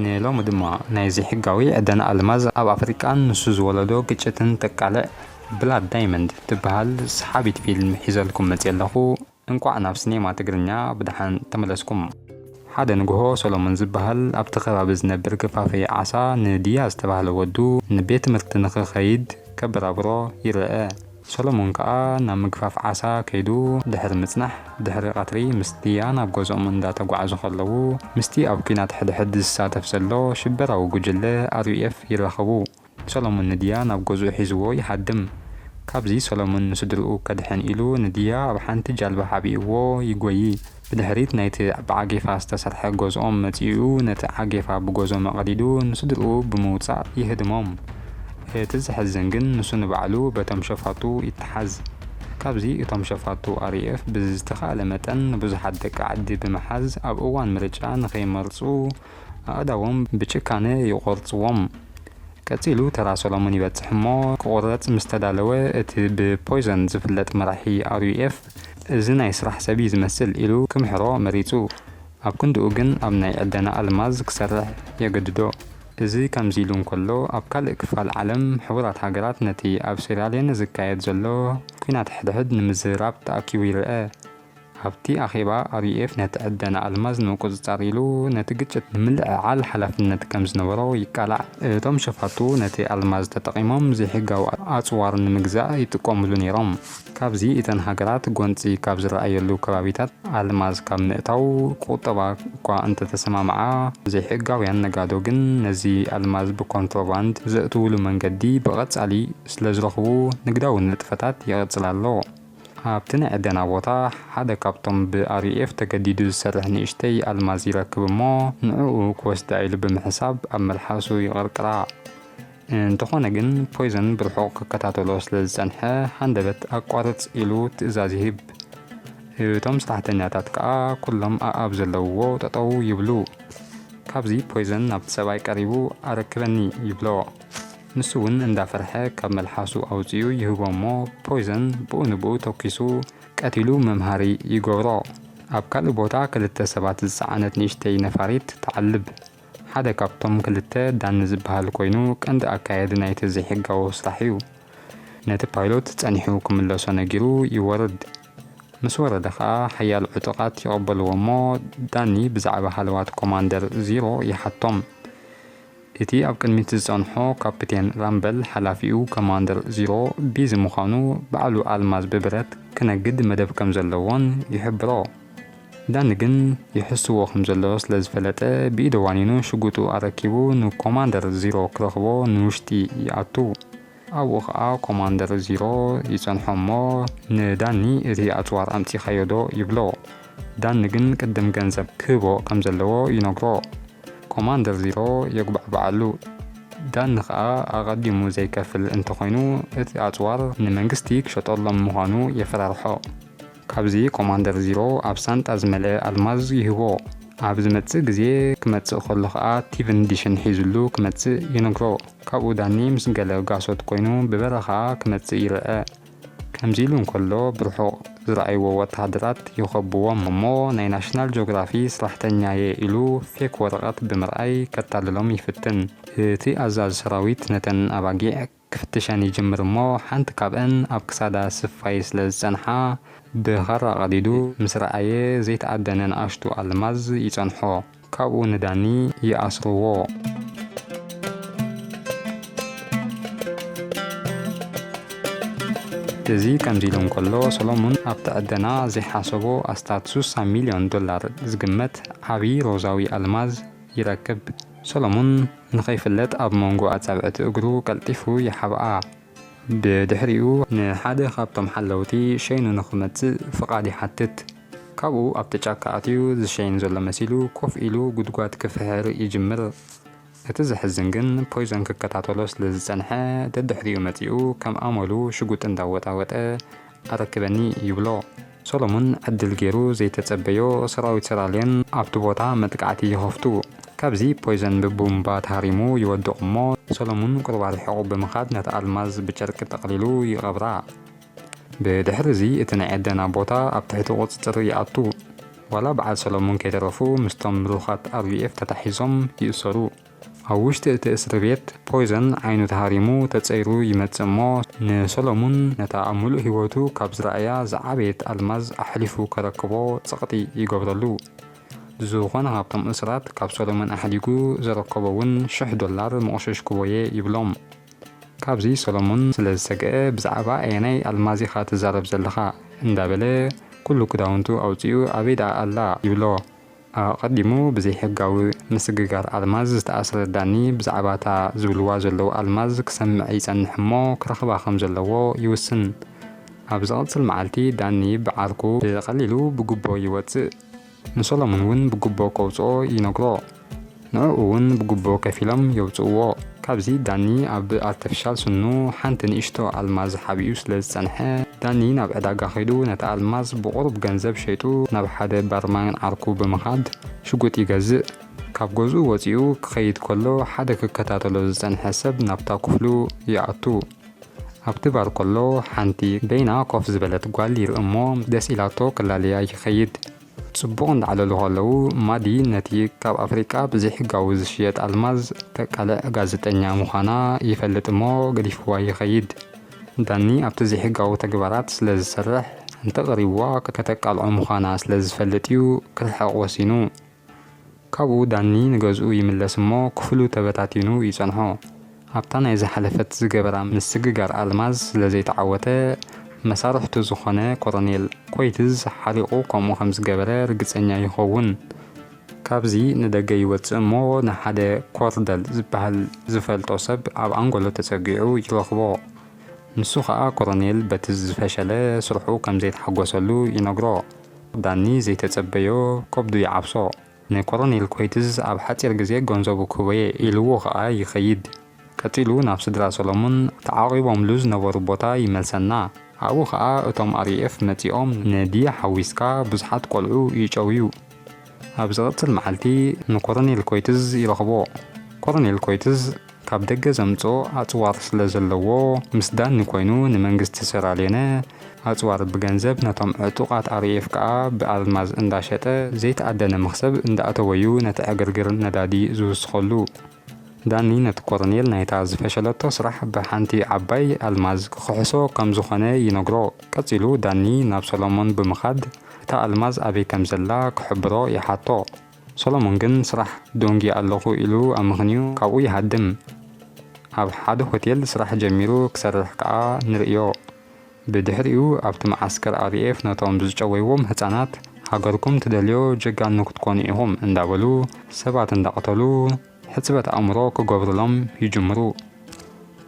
ንሎሚ ድማ ናይ ዘይሕጋዊ ዕደና ኣልማዝ ኣብ ኣፍሪቃን ንሱ ዝወለዶ ግጭትን ተቃልዕ ብላድ ዳይመንድ ትብሃል ሰሓቢት ፊልም ሒዘልኩም መጽየ ኣለኹ። እንቋዕ ናብ ስኔማ ትግርኛ ብደሓን ተመለስኩም። ሓደ ንግሆ ሰሎሞን ዝብሃል ኣብቲ ከባቢ ዝነብር ገፋፊ ዓሳ ንድያ ዝተባህለ ወዱ ንቤት ትምህርቲ ንኽኸይድ ከበራብሮ ይርኣ። ሰሎሞን ከኣ ናብ ምግፋፍ ዓሳ ከይዱ ድሕሪ ምጽናሕ፣ ድሕሪ ቀትሪ ምስ ዲያ ናብ ገዝኦም እንዳ ተጓዕዙ ከለዉ፣ ምስቲ ኣብ ኲናት ሕድሕድ ዝሳተፍ ዘሎ ሽበራዊ ጉጅለ RUF ይራኸቡ። ሰሎሞን ንዲያ ናብ ገዝኡ ሒዝዎ ይሃድም። ካብዚ ሰሎሞን ንስድርኡ ከድሕን ኢሉ ንዲያ ኣብ ሓንቲ ጃልባ ሓቢእዎ ይጎዪ። ብድሕሪት ናይቲ ብዓጌፋ ዝተሰርሐ ገዝኦም መጺኡ ነቲ ዓጌፋ ብገዞ መቐዲዱ ንስድርኡ ብምውጻእ ይህድሞም። እቲ ዘሕዝን ግን ንሱ ንባዕሉ በቶም ሸፋቱ ይተሓዝ። ካብዚ እቶም ሸፋቱ RAF ብዝተኻእለ መጠን ንብዙሓት ደቂ ዓዲ ብምሓዝ ኣብ እዋን ምርጫ ንኸይመርጹ ኣእዳዎም ብጭካነ ይቖርጽዎም። ቀጺሉ ተራ ሰሎሙን ይበጽሕ እሞ ክቑረጽ ምስ ተዳለወ እቲ ብፖይዞን ዝፍለጥ መራሒ RUF እዚ ናይ ስራሕ ሰብ እዩ ዝመስል ኢሉ ክምሕሮ መሪጹ። ኣብ ክንድኡ ግን ኣብ ናይ ዕደና ኣልማዝ ክሰርሕ የገድዶ። እዚ ከምዚ ኢሉ እንከሎ ኣብ ካልእ ክፋል ዓለም ሕቡራት ሃገራት ነቲ ኣብ ሴራልዮነ ዝካየድ ዘሎ ኲናት ሕድሕድ ንምዝርራብ ተኣኪቡ ይርኣ። ኣብቲ ኣኼባ RUF ነቲ ዕደና ኣልማዝ ንምቁጽጻር ኢሉ ነቲ ግጭት ንምልዕዓል ሓላፍነት ከም ዝነበሮ ይቃላዕ። እቶም ሸፋቱ ነቲ ኣልማዝ ተጠቒሞም ዘይሕጋዊ ኣጽዋር ንምግዛእ ይጥቀሙሉ ነይሮም። ካብዚ እተን ሃገራት ጎንፂ ካብ ዝረኣየሉ ከባቢታት ኣልማዝ ካብ ምእታው ቁጠባ እኳ እንተተሰማምዓ ዘይሕጋውያን ነጋዶ ግን ነዚ ኣልማዝ ብኮንትሮባንድ ዘእትውሉ መንገዲ ብቐፃሊ ስለዝረኽቡ ንግዳዊ ንጥፈታት ይቕፅል ኣሎ። ኣብቲ ናይ ዕደና ቦታ ሓደ ካብቶም ብኣርዩኤፍ ተገዲዱ ዝሰርሕ ንእሽተይ ኣልማዝ ይረክብ እሞ ንዕኡ ክወስዳ ኢሉ ብምሕሳብ ኣብ መልሓሱ ይቕርቅራ። እንተኾነ ግን ፖይዘን ብርሑቕ ክከታተሎ ስለዝጸንሐ ሃንደበት ኣቋርጽ ኢሉ ትእዛዝ ይህብ። እቶም ስራሕተኛታት ከኣ ኩሎም ኣኣብ ዘለውዎ ጠጠው ይብሉ። ካብዚ ፖይዘን ናብቲ ሰብኣይ ቀሪቡ ኣረክበኒ ይብሎ። ንሱውን እንዳፈርሐ ካብ መልሓሱ ኣውጺኡ ይህቦ እሞ ፖይዘን ብኡ ንብኡ ተኪሱ ቀቲሉ መምሃሪ ይገብሮ። ኣብ ካልእ ቦታ ክልተ ሰባት ዝጸዓነት ንእሽተይ ነፋሪት ትዓልብ። ሓደ ካብቶም ክልተ ዳኒ ዝበሃል ኮይኑ ቀንዲ ኣካያዲ ናይቲ ዘይሕጋዊ ስራሕ እዩ። ነቲ ፓይሎት ጸኒሑ ክምለሶ ነጊሩ ይወርድ። ምስ ወረደ ከኣ ሓያሎ ዕጡቓት ይቐበልዎ እሞ ዳኒ ብዛዕባ ሃለዋት ኮማንደር ዚሮ ይሓቶም። እቲ ኣብ ቅድሚት ዝጸንሖ ካፒቴን ራምበል ሓላፊኡ ኮማንደር ዚሮ ቢዚ ምዃኑ ባዕሉ ኣልማዝ ብብረት ክነግድ መደብ ከም ዘለዎን ይሕብሮ። ዳኒ ግን ይሕስዎ ከም ዘሎ ስለ ዝፈለጠ ብኢደ ዋኒኑ ሽጉጡ ኣረኪቡ ንኮማንደር ዚሮ ክረኽቦ ንውሽጢ ይኣቱ። ኣብኡ ከኣ ኮማንደር ዚሮ ይጸንሖ እሞ ንዳኒ እቲ ኣጽዋር ኣምጺኻዮ ዶ ይብሎ። ዳኒ ግን ቅድም ገንዘብ ክህቦ ከም ዘለዎ ይነግሮ። ኮማንደር ዚሮ የጉባዕብዓሉ። ዳኒ ከኣ ኣቐዲሙ ዘይከፍል እንተኾይኑ እቲ ኣጽዋር ንመንግስቲ ክሸጠሎም ምዃኑ የፈራርሖ። ካብዚ ኮማንደር ዚሮ ኣብ ሳንጣ ዝመልኤ ኣልማዝ ይህቦ። ኣብ ዝመጽእ ግዜ ክመጽእ ከሎ ከኣ ቲቪን ዲሽን ሒዝሉ ክመጽእ ይነግሮ። ካብኡ ዳኒ ምስ ገለ ጋሶት ኮይኑ ብበረኻ ክመጽእ ይርኣ። ከምዚ ኢሉ እንከሎ ብርሑቕ ዝረኣይዎ ወተሃደራት ይኸብዎም እሞ ናይ ናሽናል ጆግራፊ ስራሕተኛ'የ ኢሉ ፌክ ወረቐት ብምርኣይ ከታልሎም ይፍትን። እቲ ኣዛዚ ሰራዊት ነተን ኣባጊዕ ክፍትሸን ይጅምር እሞ ሓንቲ ካብእን ኣብ ክሳዳ ስፋይ ስለ ዝጸንሓ ብኻራ ቀዲዱ ምስ ረኣየ ዘይተኣደነ ንኣሽቱ ኣልማዝ ይጸንሖ ካብኡ ንዳኒ ይኣስርዎ። እዚ ከምዚ ኢሉ እንከሎ ሰሎሙን ኣብቲ ዕደና ዘይሓሰቦ ኣስታት ሱሳ ሚልዮን ዶላር ዝግመት ዓቢ ሮዛዊ ኣልማዝ ይረክብ። ሰሎሙን ንኸይፍለጥ ኣብ መንጎ ኣጻብዕቲ እግሩ ቀልጢፉ ይሓብኣ። ብድሕሪኡ ንሓደ ካብቶም ሓለውቲ ሸይኑ ንኽመጽእ ፍቓድ ይሓትት። ካብኡ ኣብቲ ጫካ ኣትዩ ዝሸይን ዘሎ መሲሉ ኮፍ ኢሉ ጉድጓድ ክፍሕር ይጅምር። እቲ ዘሕዝን ግን ፖይዞን ክከታተሎ ስለ ዝጸንሐ ደድሕሪኡ መጺኡ ከም ኣመሉ ሽጉጥ እንዳወጣወጠ ኣረክበኒ ይብሎ። ሰሎሙን ዕድል ጌሩ ዘይተጸበዮ ሰራዊት ሰራልዮን ኣብቲ ቦታ መጥቃዕቲ ይኸፍቱ። ካብዚ ፖይዘን ብቡምባ ተሃሪሙ ይወድቕ እሞ ሰሎሙን ቁሩብ ኣርሒቑ ብምኻድ ነታ ኣልማዝ ብጨርቂ ጠቕሊሉ ይቐብራ። ብድሕሪዚ እቲ ናይ ዐደና ቦታ ኣብ ትሕቲ ቁጽጽር ይኣቱ። ዋላ በዓል ሰሎሙን ከይተረፉ ምስቶም ምሩኻት RUF ተታሒዞም ይእሰሩ። ኣብ ውሽጢ እቲ እስርቤት ፖይዘን ዓይኑ ተሃሪሙ ተጸይሩ ይመጽእ እሞ ንሰሎሙን ነታ ኣብ ምሉእ ህይወቱ ካብ ዝረኣያ ዝዓበየት ኣልማዝ ኣሕሊፉ ከረክቦ ጸቕጢ ይገብረሉ። ዝኾነ ካብቶም እሱራት ካብ ሰሎሙን ኣሕዲጉ ዘረከቦ እውን ሽሕ ዶላር ምቕሸሽኩዎ'የ ይብሎም። ካብዚ ሰሎሙን ስለ ዝሰግኣ ብዛዕባ ኣየናይ ኣልማዝ ኢኻ ትዛረብ ዘለኻ? እንዳበለ ኩሉ ክዳውንቱ ኣውጺኡ ኣበይ ደኣ ኣላ? ይብሎ። ኣቐዲሙ ብዘይሕጋዊ ምስግጋር ኣልማዝ ዝተኣስረ ዳኒ ብዛዕባ እታ ዝብልዋ ዘለዉ ኣልማዝ ክሰምዕ ይጸንሕ እሞ ክረኽባ ከም ዘለዎ ይውስን። ኣብ ዝቕጽል መዓልቲ ዳኒ ብዓርኩ ብቐሊሉ ብጉቦ ይወጽእ። ንሶሎሙን እውን ብጉቦ ከውጽኦ ይነግሮ። ንዕኡ ውን ብጉቦ ከፊሎም የውጽእዎ። ካብዚ ዳኒ ኣብ ኣርተፍሻል ስኑ ሓንቲ ንእሽቶ ኣልማዝ ሓቢኡ ስለ ዝጸንሐ፣ ዳኒ ናብ ዕዳጋ ከይዱ ነታ ኣልማዝ ብቑሩብ ገንዘብ ሸይጡ ናብ ሓደ ባርማን ዓርኩ ብምኻድ ሽጉጥ ይገዝእ። ካብ ገዝኡ ወጺኡ ክኸይድ ከሎ ሓደ ክከታተሎ ዝጸንሐ ሰብ ናብታ ክፍሉ ይኣቱ። ኣብቲ ባር ከሎ ሓንቲ በይና ኮፍ ዝበለት ጓል ይርኢ እሞ ደስ ኢላቶ ክላለያ ይኸይድ። ጽቡቕ እንዳዕለሉ ከለዉ ማዲ ነቲ ካብ ኣፍሪቃ ብዘይሕጋዊ ዝሽየጥ ኣልማዝ ተቃልዕ ጋዜጠኛ ምዃና ይፈልጥ እሞ ገዲፍዋ ይኸይድ። ዳኒ ኣብቲ ዘይሕጋዊ ተግባራት ስለ ዝሰርሕ እንተቐሪብዋ ከተቃልዖ ምዃና ስለ ዝፈልጥ'ዩ ክርሕቕ ወሲኑ። ካብኡ ዳኒ ንገዝኡ ይምለስ እሞ ክፍሉ ተበታቲኑ ይጸንሖ። ኣብታ ናይ ዝሓለፈት ዝገበራ ምስግጋር ኣልማዝ ስለ ዘይተዓወተ መሳርሕቱ ዝኾነ ኮረኔል ኮይትዝ ሓሪቑ ከምኡ ከም ዝገበረ ርግጸኛ ይኸውን። ካብዚ ንደገ ይወጽእ እሞ ንሓደ ኮርደል ዝበሃል ዝፈልጦ ሰብ ኣብ ኣንጎሎ ተጸጊዑ ይረኽቦ። ንሱ ከኣ ኮረኔል በቲ ዝፈሸለ ስርሑ ከም ዘይተሓጎሰሉ ይነግሮ። ዳኒ ዘይተጸበዮ ከብዱ ይዓብሶ ን ኮሮኔል ኮይትዝ ኣብ ሓጺር ግዜ ገንዘቡ ክህቦየ ኢልዎ ከኣ ይከይድ ቀጺሉ ናብ ስድራ ሰሎሙን ተዓቂቦምሉ ዝነበሩ ቦታ ይመልሰና ኣብኡ ከኣ እቶም REF መጺኦም ን ዲያ ሓዊስካ ብዙሓት ቆልዑ ይጨውዩ ኣብ ዝቕጽል መዓልቲ ንኮረኔል ኮይትዝ ይረኽቦ። ኮረኔል ኮይትዝ ካብ ደገ ዘምጽኦ ኣጽዋር ስለ ዘለዎ ምስ ዳኒ ኮይኑ ንመንግስቲ ሰራልዮነ ኣጽዋር ብገንዘብ ነቶም ዕጡቓት RAF ከኣ ብኣልማዝ እንዳ ሸጠ ዘይተኣደነ መኽሰብ እንዳ ኣተወ'ዩ ነቲ ዕግርግር ነዳዲ ዝውስኸሉ። ዳኒ ነቲ ኮረኔል ናይታ ዝፈሸለቶ ስራሕ ብሓንቲ ዓባይ ኣልማዝ ክኽሕሶ ከም ዝኾነ ይነግሮ። ቀጺሉ ዳኒ ናብ ሰሎሞን ብምኻድ እታ ኣልማዝ ኣበይ ከም ዘላ ክሕብሮ ይሓቶ። ሰሎሞን ግን ስራሕ ደንጉየ ኣለኹ ኢሉ ኣመኽንዩ ካብኡ ይሃድም። ኣብ ሓደ ሆቴል ስራሕ ጀሚሩ ክሰርሕ ከኣ ንርእዮ። ብድሕሪኡ ኣብቲ መዓስከር RAF ነቶም ብዝጨወይዎም ህጻናት ሃገርኩም ትደልዮ ጀጋኑ ክትኮኑ ኢኹም እንዳበሉ ሰባት እንዳቐተሉ ሕጽበት ኣእምሮ ክገብሩሎም ይጅምሩ።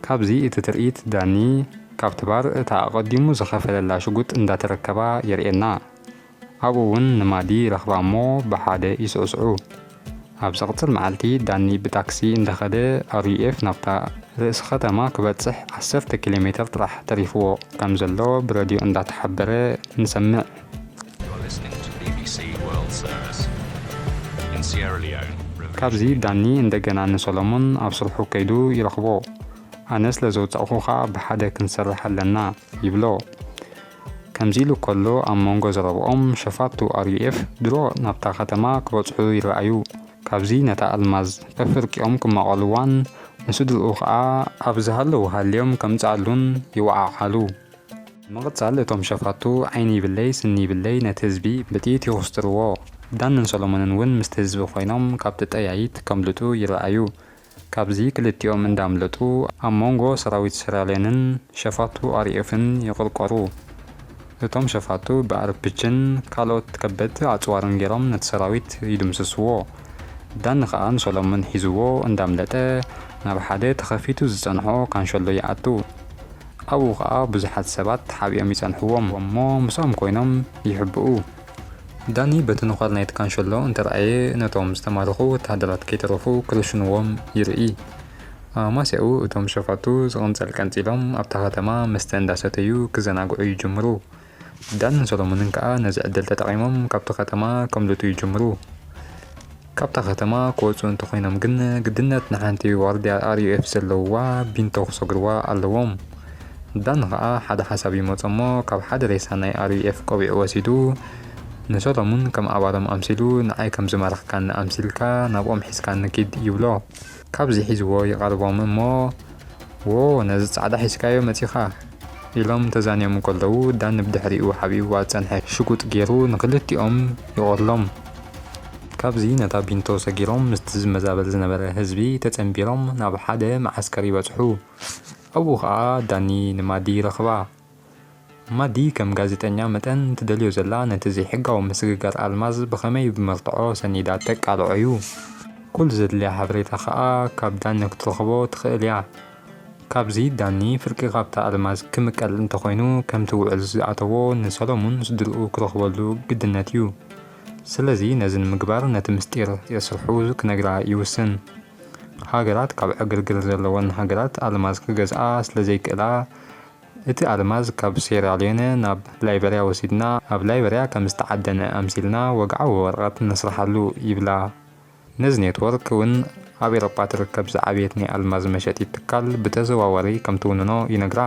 ካብዚ እቲ ትርኢት ዳኒ ካብቲ ባር እታ ኣቐዲሙ ዝኸፈለላ ሽጉጥ እንዳተረከባ የርእየና። ኣብኡ እውን ንማዲ ይረኽባ እሞ ብሓደ ይስዕስዑ። ኣብ ዘቕጽል መዓልቲ ዳኒ ብታክሲ እንዳኸደ RUF ናብታ ርእሲ ከተማ ክበጽሕ ዓሰርተ ኪሎ ሜተር ጥራሕ ተሪፍዎ ከም ዘሎ ብረድዮ እንዳተሓበረ ንሰምዕ። ካብዚ ዳኒ እንደገና ንሰሎሞን ኣብ ስርሑ ከይዱ ይረኽቦ። ኣነ ስለ ዘውጻእኩኻ ብሓደ ክንሰርሕ ኣለና ይብሎ። ከምዚ ኢሉ ከሎ ኣብ መንጎ ዘረብኦም ሸፋቱ RUF ድሮ ናብታ ከተማ ክበጽሑ ይረኣዩ። ካብዚ ነታ ኣልማዝ ፈፍርቂኦም ክማቐልዋን ንስድርኡ ከኣ ኣብ ዝሃለዉ ሃልዮም ከምጽኣሉን ይወዓዓሉ። ብምቕጻል እቶም ሸፋቱ ዓይኒ ይብለይ ስኒ ይብለይ ነቲ ህዝቢ ብጥይት ይኹስትርዎ። ዳንን ሰሎሞንን እውን ምስቲ ህዝቢ ኮይኖም ካብቲ ጠያይት ከምልጡ ይረኣዩ። ካብዚ ክልቲኦም እንዳምለጡ ኣብ ሞንጎ ሰራዊት ሰራልዮንን ሸፋቱ ኣርኤፍን ይቕርቆሩ። እቶም ሸፋቱ ብኣርፕችን ካልኦት ከበድቲ ኣጽዋርን ጌሮም ነቲ ሰራዊት ይድምስስዎ። ዳኒ ከኣ ንሶሎሙን ሒዝዎ እንዳምለጠ ናብ ሓደ ተኸፊቱ ዝጸንሖ ካንሸሎ ይኣቱ። ኣብኡ ከኣ ብዙሓት ሰባት ተሓቢኦም ይጸንሕዎም እሞ ምስኦም ኮይኖም ይሕብኡ። ዳኒ በቲ ነዃል ናይቲ ካንሸሎ እንተረኣየ ነቶም ዝተማረኹ ወተሃደራት ከይተረፉ ክርሽኑዎም ይርኢ። ኣብ ኣማስያኡ እቶም ሸፋቱ ዝቕንጸል ቀንጺሎም ኣብታ ከተማ መስተ እንዳሰተዩ ክዘናግዑ ይጅምሩ። ዳንን ሰሎሙንን ከኣ ነዚ ዕድል ተጠቒሞም ካብቲ ከተማ ከምልጡ ይጅምሩ። ካብታ ከተማ ክወጹ እንተኾይኖም ግን ግድነት ንሓንቲ ዋርድያ RUF ዘለውዋ ቢንቶ ክሰግርዋ ኣለዎም። ዳኒ ከኣ ሓደ ሓሳብ ይመጾ እሞ ካብ ሓደ ሬሳ ናይ RUF ቆቢዕ ወሲዱ ንሰሎሙን ከም ኣባሎም ኣምሲሉ ንዓይ ከም ዝማረኽካኒ ኣምሲልካ ናብኦም ሒዝካኒ ኪድ ይብሎ። ካብዚ ሒዝዎ ይቐርቦም እሞ ዎ ነዚ ጻዕዳ ሒዝካዮ መጺኻ ኢሎም ተዛንዮም እንከለዉ ዳኒ ብድሕሪኡ ሓቢእዋ ዝጸንሐ ሽጉጥ ጌሩ ንኽልቲኦም ይቖርሎም። ካብዚ ነታ ቢንቶ ሰጊሮም ምስቲ ዝመዛበል ዝነበረ ህዝቢ ተጸንቢሮም ናብ ሓደ መዓስከር ይበጽሑ። ኣብኡ ኸኣ ዳኒ ንማዲ ይረኽባ። ማዲ ከም ጋዜጠኛ መጠን ትደልዮ ዘላ ነቲ ዘይሕጋዊ ምስግጋር ኣልማዝ ብኸመይ ብመርትዖ ሰኒዳ ተቃልዖ'ዩ። ኩሉ ዘድልያ ሓበሬታ ከኣ ካብ ዳኒ ክትረኽቦ ትኽእል'ያ። ካብዚ ዳኒ ፍርቂ ካብታ ኣልማዝ ክምቀል እንተኾይኑ ከምቲ ውዕል ዝኣተዎ ንሰለሙን ስድርኡ ክረኽበሉ ግድነት'ዩ። ስለዚ ነዚ ንምግባር ነቲ ምስጢር የስርሑ ክነግራ ይውስን። ሃገራት ካብ ዕግርግር ዘለወን ሃገራት ኣልማዝ ክገዝኣ ስለዘይክእላ እቲ ኣልማዝ ካብ ሴራልዮነ ናብ ላይበርያ ወሲድና ኣብ ላይበርያ ከም ዝተዓደነ ኣምሲልና ወግዓዊ ወረቐት ነስርሓሉ ይብላ። ነዚ ኔትወርክ እውን ኣብ ኤሮጳ ትርከብ ዝዓበየት ናይ ኣልማዝ መሸጢት ትካል ብተዘዋዋሪ ከም ትውንኖ ይነግራ።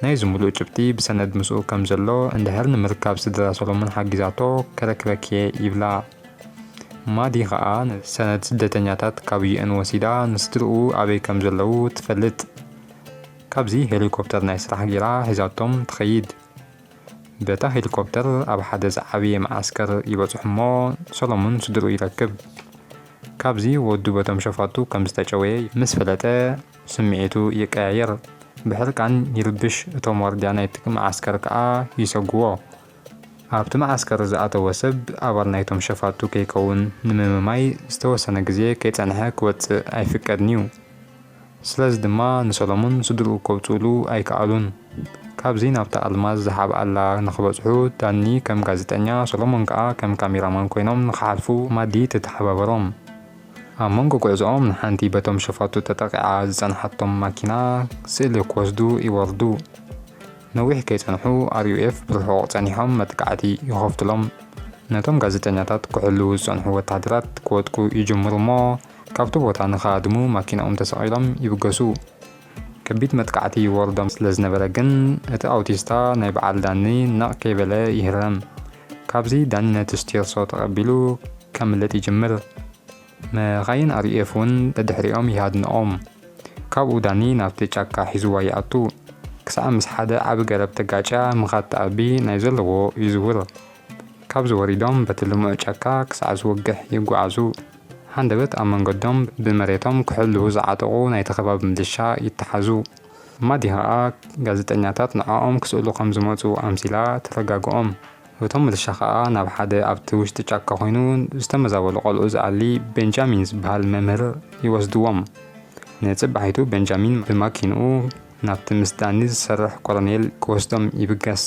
ናይዚ ምሉእ ጭብጢ ብሰነድ ምስኡ ከም ዘሎ እንድሕር ንምርካብ ስድራ ሰሎሞን ሓጊዛቶ ከረክበኪ'የ ይብላ። ማዲ ከኣ ሰነድ ስደተኛታት ካብ UN ወሲዳ ንስድርኡ ኣበይ ከም ዘለዉ ትፈልጥ። ካብዚ ሄሊኮፕተር ናይ ስራሕ ጌራ ሒዛቶም ትኸይድ። በታ ሄሊኮፕተር ኣብ ሓደ ዝዓበየ መዓስከር ይበጽሑ'ሞ ሰሎሙን ስድርኡ ይረክብ። ካብዚ ወዱ በቶም ሸፋቱ ከም ዝተጨወየ ምስ ፈለጠ ስምዒቱ ይቀያየር። ብሕርቃን ይርብሽ እቶም ዋርድያ ናይቲ መዓስከር ከኣ ይሰጉዎ። ኣብቲ መዓስከር ዝኣተወ ሰብ ኣባል ናይቶም ሸፋቱ ከይከውን ንምምማይ ዝተወሰነ ግዜ ከይጸንሐ ክወጽእ ኣይፍቀድን'ዩ። ስለዚ ድማ ንሰሎሙን ስድርኡ ከውጽኡሉ ኣይከኣሉን። ካብዚ ናብታ ኣልማዝ ዝሓብኣላ ንኽበጽሑ ዳኒ ከም ጋዜጠኛ ሰሎሙን ከኣ ከም ካሜራማን ኮይኖም ንኽሓልፉ ማዲ ተተሓባበሮም። ኣብ መንጎ ጉዕዞኦም ንሓንቲ በቶም ሸፋቱ ተጠቒዓ ዝጸንሓቶም ማኪና ስእሊ ክወስዱ ይወርዱ። ነዊሕ ከይጸንሑ RUF ብርሑቕ ጸኒሖም መጥቃዕቲ ይኸፍቱሎም። ነቶም ጋዜጠኛታት ክሕልዉ ዝጸንሑ ወተሃደራት ክወድቁ ይጅምሩ እሞ ካብቲ ቦታ ንኽሃድሙ ማኪናኦም ተሰቒሎም ይብገሱ። ከቢድ መጥቃዕቲ ይወርዶም ስለዝነበረ ግን እቲ ኣውቲስታ ናይ በዓል ዳኒ ነቕ ከይበለ ይህረም። ካብዚ ዳኒ ነቲ ስቲርሶ ተቐቢሉ ከምልጥ ይጅምር። መኻይን RAF ውን ደድሕሪኦም ይሃድንኦም። ካብኡ ዳኒ ናብቲ ጫካ ሒዝዋ ይኣቱ። ክሳዕ ምስ ሓደ ዓቢ ገረብ ተጋጭያ ምኻድ ትኣቢ ናይ ዘለዎ ይዝውር። ካብዚ ወሪዶም በቲ ልሙዕ ጫካ ክሳዕ ዝወግሕ ይጓዓዙ። ሃንደበት ኣብ መንገዶም ብመሬቶም ክሕልዉ ዝዓጠቑ ናይቲ ከባቢ ምልሻ ይተሓዙ። ማዲ ኸኣ ጋዜጠኛታት ንዖኦም ክስእሉ ከም ዝመጹ ኣምሲላ ተረጋግኦም። እቶም ምልሻ ከኣ ናብ ሓደ ኣብቲ ውሽጢ ጫካ ኮይኑ ዝተመዛበሉ ቆልዑ ዝኣሊ ቤንጃሚን ዝበሃል መምህር ይወስድዎም። ንጽባሒቱ ቤንጃሚን ብማኪንኡ ናብቲ ምስ ዳኒ ዝሰርሕ ኮሎኔል ክወስዶም ይብገስ።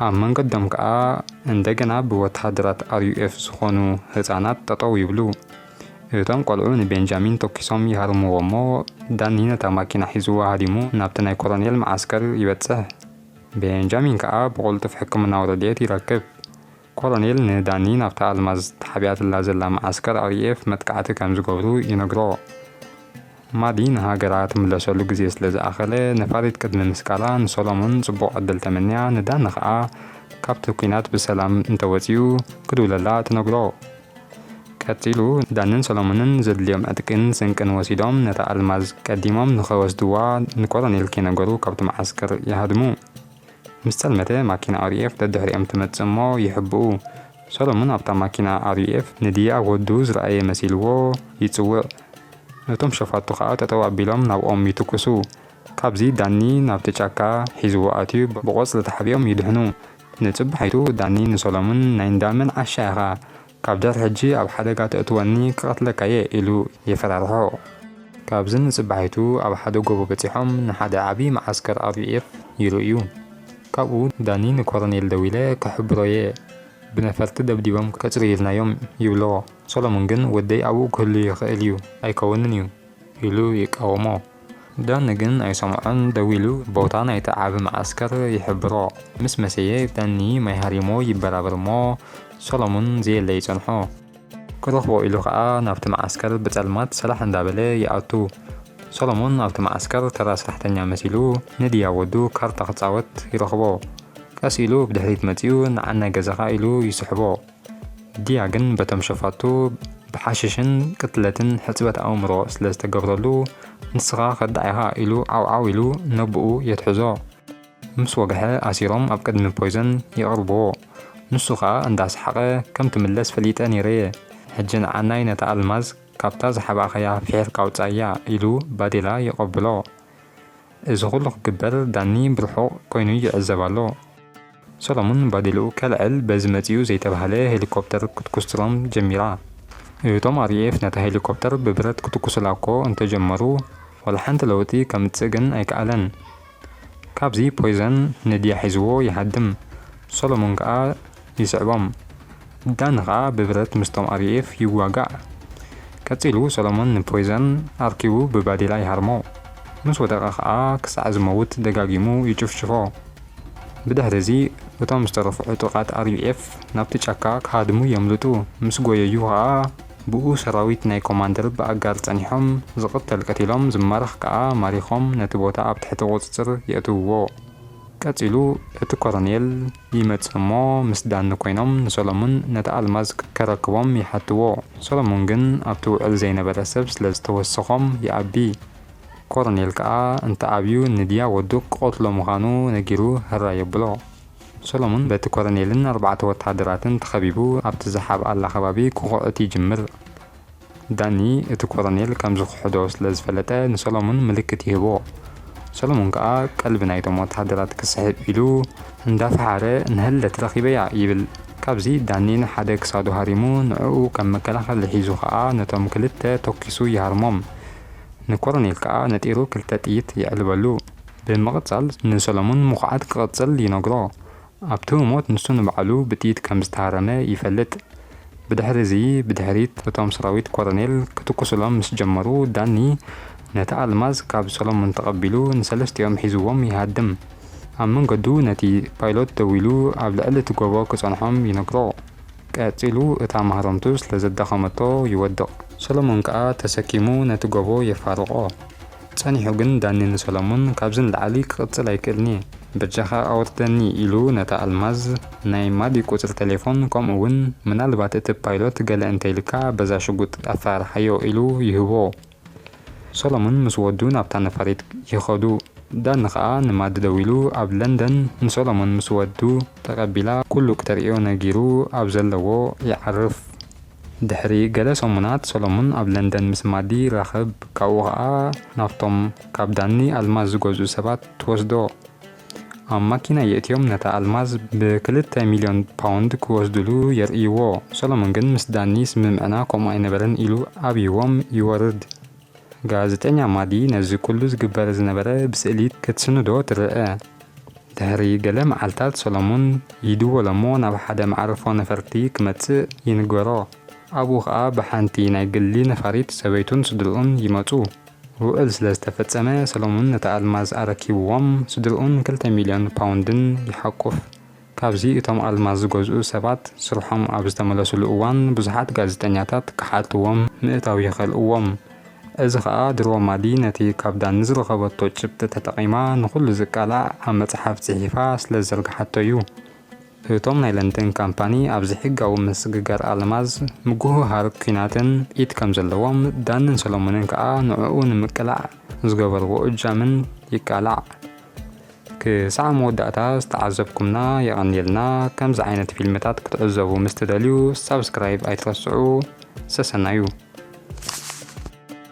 ኣብ መንገዶም ከኣ እንደገና ብወተሃደራት RUF ዝኾኑ ህጻናት ጠጠው ይብሉ። እቶም ቆልዑ ንቤንጃሚን ተኩሶም ይሃርምዎ'ሞ ዳኒ ነታ ማኪና ሒዝዋ ሃዲሙ ናብቲ ናይ ኮሎኔል መዓስከር ይበጽሕ። ቤንጃሚን ከኣ ብቕልጡፍ ሕክምናዊ ረድኤት ይረክብ። ኮሎኔል ንዳኒ ናብታ ኣልማዝ ተሓቢኣትላ ዘላ መዓስከር RAF መጥቃዕቲ ከም ዝገብሩ ይነግሮ። ማዲ ንሃገራ ትምለሰሉ ግዜ ስለ ዝኣኸለ፣ ነፋሪት ቅድሚ ምስቃላ ንሶሎሞን ጽቡቕ ዕድል ተመንያ፣ ንዳኒ ከኣ ካብቲ ኲናት ብሰላም እንተወጺኡ ክድውለላ ትነግሮ። ቀጺሉ ዳንን ሰሎሞንን ዘድልዮም ዕጥቂን ስንቅን ወሲዶም ነታ ኣልማዝ ቀዲሞም ንኸወስድዋ ንኮሎኔል ከይነገሩ ካብቲ መዓስከር ይሃድሙ። ምስ ጸልመተ ማኪና ኣርዩኤፍ ደድሕሪኦም ትመጽእ እሞ ይሕብኡ። ሰሎሙን ኣብታ ማኪና ኣርዩኤፍ ንድያ ወዱ ዝረኣየ መሲልዎ ይጽውዕ። እቶም ሸፋቱ ከኣ ጠጠው ኣቢሎም ናብኦም ይትኩሱ። ካብዚ ዳኒ ናብቲ ጫካ ሒዝዎ ኣትዩ ብቖጽሊ ተሓቢኦም ይድሕኑ። ንጽባሒቱ ዳኒ ንሶሎሙን ናይ እንዳ መን ዓሻ ኢኻ ካብ ድሕሪ ሕጂ ኣብ ሓደጋ ተእትወኒ ክቐትለካ'የ ኢሉ የፈራርሖ። ካብዚ ንጽባሒቱ ኣብ ሓደ ጎቦ በጺሖም ንሓደ ዓቢ መዓስከር ኣርቪኤፍ ይርእዩ። ካብኡ ዳኒ ንኮረኔል ደዊለ ክሕብሮ'የ ብነፈርቲ ደብዲቦም ከጽርዩልና'ዮም ይብሎ። ሶሎሙን ግን ወደይ ኣብኡ ክህሉ ይኽእል'ዩ ኣይከውንን'ዩ። ኢሉ ይቃወሞ። ዳኒ ግን ኣይሰምዖን፣ ደው ኢሉ ቦታ ናይቲ ዓቢ መዓስከር ይሕብሮ። ምስ መሰየ ዳኒ ማይ ሃሪሞ ይበራበር'ሞ ሰሎሙን ዘየለ ይጸንሖ። ክረኽቦ ኢሉ ከኣ ናብቲ መዓስከር ብጸልማት ሰራሕ እንዳበለ ይኣቱ። ሰሎሙን ኣብቲ መዓስከር ተራ ስራሕተኛ መሲሉ ንድያ ወዱ ካርታ ክጻወት ይረኽቦ። ቀስ ኢሉ ብድሕሪት መጺኡ ንዓናይ ገዛኻ ኢሉ ይስሕቦ። ድያ ግን በቶም ሸፋቱ ብሓሽሽን ቅትለትን ሕጽበት ኣእምሮ ስለ ዝተገብረሉ ንስኻ ከዳዕ ኢኻ ኢሉ ዓውዓው ኢሉ ነቡኡ የትሕዞ። ምስ ወግሐ ኣሲሮም ኣብ ቅድሚ ፖይዘን የቕርብዎ። ንሱ ከኣ እንዳ ሰሓቐ ከም ትምለስ ፈሊጠ ኔረየ ሕጂ ንዓናይ ነታ ኣልማዝ ካብታ ዝሓባእካያ ፊሒርካ ኣውጻያ ኢሉ ባዴላ የቐብሎ። እዚ ኩሉ ክግበር ዳኒ ብርሑቕ ኮይኑ ይዕዘብ ኣሎ። ሰሎሙን ባዴልኡ ከልዕል በዚ መጺኡ ዘይተባህለ ሄሊኮፕተር ክትኩስትሮም ጀሚራ። እቶም RAF ነታ ሄሊኮፕተር ብብረት ክትኩሱላ'ኮ እንተጀመሩ ዋላ ሓንቲ ለውጢ ከምጽእ ግን ኣይከኣለን። ካብዚ ፖይዘን ንድያ ሒዝዎ ይሃድም፣ ሰሎሙን ከኣ ይስዕቦም። ዳኒ ከኣ ብብረት ምስቶም RAF ይዋጋእ። ቀጺሉ ሰሎሙን ንፖይዘን ኣርኪቡ ብባዴላ ይሃርሞ። ምስ ወደቐ ከኣ ክሳዕ ዝመውት ደጋጊሙ ይጭፍጭፎ። ብድሕሪ'ዚ እቶም ዝተረፉ ዕጡቓት RUF ናብቲ ጫካ ክሃድሙ የምልጡ፣ ምስ ጎየዩ ከኣ ብኡ ሰራዊት ናይ ኮማንደር ብኣጋር ጸኒሖም ዝቕተል ቀቲሎም ዝማረኽ ከኣ ማሪኾም ነቲ ቦታ ኣብ ትሕቲ ቁጽጽር የእትውዎ። ቀጺሉ እቲ ኮረኔል ይመጽእ እሞ ምስ ዳኒ ኮይኖም ንሰለሙን ነቲ ኣልማዝ ከረክቦም ይሓትዎ፣ ሰለሙን ግን ኣብቲ ውዕል ዘይነበረ ሰብ ስለ ዝተወሰኾም ይኣቢ። ኮረኔል ከኣ እንተኣብዩ ንድያ ወዱ ክቐትሎ ምዃኑ ነጊሩ ህራይ የብሎ። ሰሎሙን በቲ ኮረኔልን ኣርባዕተ ወተሃደራትን ተኸቢቡ ኣብቲ ዝሓብኣላ ከባቢ ክኹዕት ይጅምር። ዳኒ እቲ ኮረኔል ከም ዝኽሕዶ ስለ ዝፈለጠ ንሰሎሙን ምልክት ይህቦ። ሰሎሙን ከኣ ቀልቢ ናይቶም ወተሃደራት ክስሕብ ኢሉ እንዳፈሓረ ንሀለት ረኺበያ ይብል። ካብዚ ዳኒ ንሓደ ክሳዱ ሃሪሙ ንዕኡ ከም መከላኸሊ ሒዙ ከኣ ነቶም ክልተ ተኲሱ ይሃርሞም። ንኮረኔል ከኣ ነጢሩ ክልተ ጥይት የዕልበሉ። ብምቕጻል ንሰለሙን ምኹዓት ክቕጽል ይነግሮ። ኣብቲ ህሞት ንሱ ንባዕሉ ብጥይት ከም ዝተሃረመ ይፈልጥ። ብድሕሪ'ዚ ብድሕሪት እቶም ሰራዊት ኮረኔል ክትኩሱሎም ምስ ጀመሩ ዳኒ ነታ ኣልማዝ ካብ ሰለሙን ተቐቢሉ ንሰለስቲኦም ሒዝዎም ይሃድም። ኣብ መንገዱ ነቲ ፓይሎት ደዊሉ ኣብ ልዕሊ'ቲ ጎቦ ክጸንሖም ይነግሮ። ቀጺሉ እታ ማህረምቱ ስለ ዘዳኸመቶ ይወድቕ። ሰሎሞን ከኣ ተሰኪሙ ነቲ ጎቦ የፋርቖ። ጸኒሑ ግን ዳኒ ንሰሎሞን ካብዚ ንላዕሊ ክቕጽል ኣይክእልን'የ፣ በጃኻ ኣውርደኒ ኢሉ ነታ ኣልማዝ፣ ናይ ማዲ ቁጽሪ ተሌፎን ከምኡ'ውን ምናልባት እቲ ፓይሎት ገለ እንተኢሉካ በዛ ሽጉጥ ኣፈራርሓዮ ኢሉ ይህቦ። ሰሎሙን ምስ ወዱ ናብታ ነፋሪት ይኸዱ። ዳኒ ከኣ ንማዲ ደዊሉ ኣብ ለንደን ንሰሎሙን ምስ ወዱ ተቀቢላ ኩሉ ክተርእዮ ነጊሩ ኣብ ዘለዎ ይዓርፍ። ድሕሪ ገለ ሰሙናት ሰሎሙን ኣብ ለንደን ምስ ማዲ ይራኸብ ካብኡ ከኣ ናብቶም ካብ ዳኒ ኣልማዝ ዝገዝኡ ሰባት ትወስዶ። ኣብ ማኪና የእትዮም ነታ ኣልማዝ ብክልተ ሚልዮን ፓውንድ ክወስድሉ የርእይዎ። ሰሎሞን ግን ምስ ዳኒ ስምምዕና ከምኡ ኣይነበረን ኢሉ ኣብይዎም ይወርድ። ጋዜጠኛ ማዲ ነዚ ኩሉ ዝግበር ዝነበረ ብስእሊ ክትስንዶ ትርኣ። ድሕሪ ገለ መዓልታት ሰሎሞን ይድወሎ'ሞ ናብ ሓደ መዓርፎ ነፈርቲ ክመጽእ ይንገሮ። ኣብኡ ከኣ ብሓንቲ ናይ ግሊ ነፋሪት ሰበይቱን ስድርኡን ይመጹ። ውዕል ስለ ዝተፈጸመ፣ ሰሎሞን ነታ ኣልማዝ ኣረኪብዎም፣ ስድርኡን ክልተ ሚልዮን ፓውንድን ይሓቁፍ። ካብዚ እቶም ኣልማዝ ዝገዝኡ ሰባት ስርሖም ኣብ ዝተመለሱሉ እዋን ብዙሓት ጋዜጠኛታት ክሓትዎም ምእታው ይኸልእዎም። እዚ ኸኣ ድሮ ማዲ ነቲ ካብ ዳኒ ዝረኸበቶ ጭብጢ ተጠቒማ ንኹሉ ዝቃላዕ ኣብ መጽሓፍ ጽሒፋ ስለ ዝዘርግሓቶ'ዩ። እቶም ናይ ለንደን ካምፓኒ ኣብ ዘይሕጋዊ ምስግጋር ኣልማዝ፣ ምጉህሃር ኲናትን ኢድ ከም ዘለዎም፣ ዳንን ሰሎሞንን ከኣ ንዕኡ ንምቅላዕ ዝገበርዎ እጃምን ይቃላዕ። ክሳዕ መወዳእታ ዝተዓዘብኩምና የቐንየልና። ከምዚ ዓይነት ፊልምታት ክትዕዘቡ ምስ ትደልዩ ሳብስክራይብ ኣይትረስዑ። ሰሰናዩ!